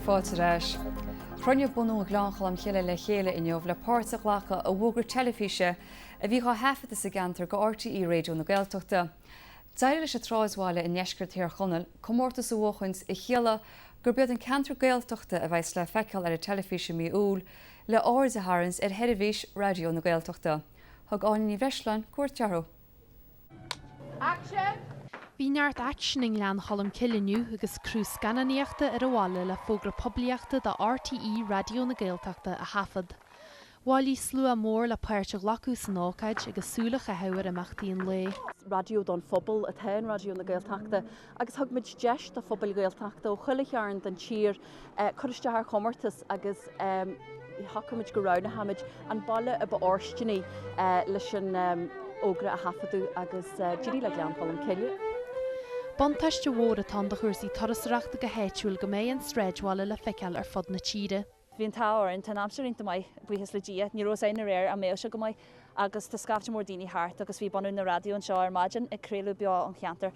Fáilte ar ais. Chruinnigh bunadh Ghleann Cholm Cille le chéile inniu le páirt a ghlacadh i bhfógra teilifíse a bhí dhá thaifeadadh sa gceantar do RTÉ Raidió na Gaeltachta. D'éirigh leis an tsráidbhaile i ndeisceart Thír Chonaill comórtas a bhuachaint a chiallaigh gurb iad an ceantar Gaeltachta a bheidhs le feiceáil ar an teilifís i mí Iúil le aird a tharraingt ar sheirbhís Raidió na Gaeltachta. Thug Áine Ní Bhreisleáin cuairt orthu. Action! Bhí neart aicsin i nGleann Cholm Cille inniu agus criú scannánaíochta ar an bhaile le fógra poiblíochta do RTÉ Raidió na Gaeltachta a thaifead. Bhailigh slua mór le páirt a ghlacadh san ócáid agus súil a chaitheamh ar imeachtaí an lae. Raidió don phobal atá in Raidió na Gaeltachta agus thug muid deis do phobail Ghaeltachta ó chuile chearn den tír cur isteach ar chomórtas agus shocraigh muid go roghnóimid an baile a ba fhóirsteanaí leis an fhógra a thaifeadadh agus d'éirigh le Gleann Cholm Cille. Buntáiste mhór atá ann do chúrsaí turasóireachta go háitiúil go mbeidh an sráidbhaile le feiceáil ar fud na tíre. Bhí an t-ádh orainn, tá an aimsir iontach maith, buíochas le Dia, ní raibh fhios againn aréir an mbeadh sé go maith agus tá scaifte mór daoine thart agus bhí bunadh na raidió anseo ar maidin ag craoladh beo ón cheantar.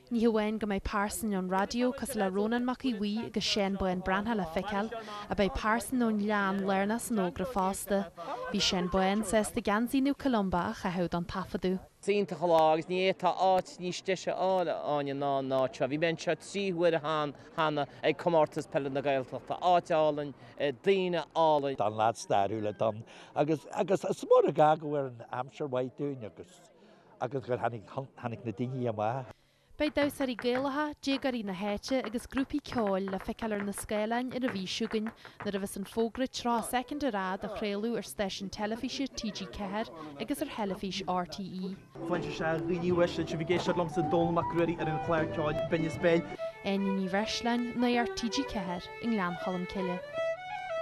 Ní hamháin go mbeidh pearsain ón raidió cosúil le Rónán Mac Aodh Bhuí agus Seán Bán Breathnach le feiceáil ach beidh pearsain ón Ghleann lárnach san fhógra fosta. Bhí Seán Bán sásta geansaí Naomh Columba a chaitheamh don taifeadadh. Is iontach an lá agus ní fhéadfá áit níos deise a fháil, a Áine, ná an áit seo. Bhí mé anseo trí huaire cheana cheana ag Comórtas Peile na Gaeltachta, áit álainn, daoine álainn. An-lá stairiúil é dúinn agus agus is mór an gar go bhfuil an aimsir maith dúinn agus agus gur tháinig tháinig na daoine amach. Beidh damhsóirí Gaelacha, déagóirí na háite agus grúpaí ceoil le feiceáil ar na scáileáin ar an mhí seo chugainn nuair a bheas an fógra 30 soicind ar fhad á chraoladh ar stáisiún teilifíse TG4 agus ar theilifís RTÉ. Foinse is ea Áine Ní Bhreisleáin, sibh ag éisteacht liomsa, Dónall Mac Ruairí, ar an chlár ceoil Binneas Béil. Áine Ní Bhreisleáin, Nuacht TG4 i nGleann Cholm Cille.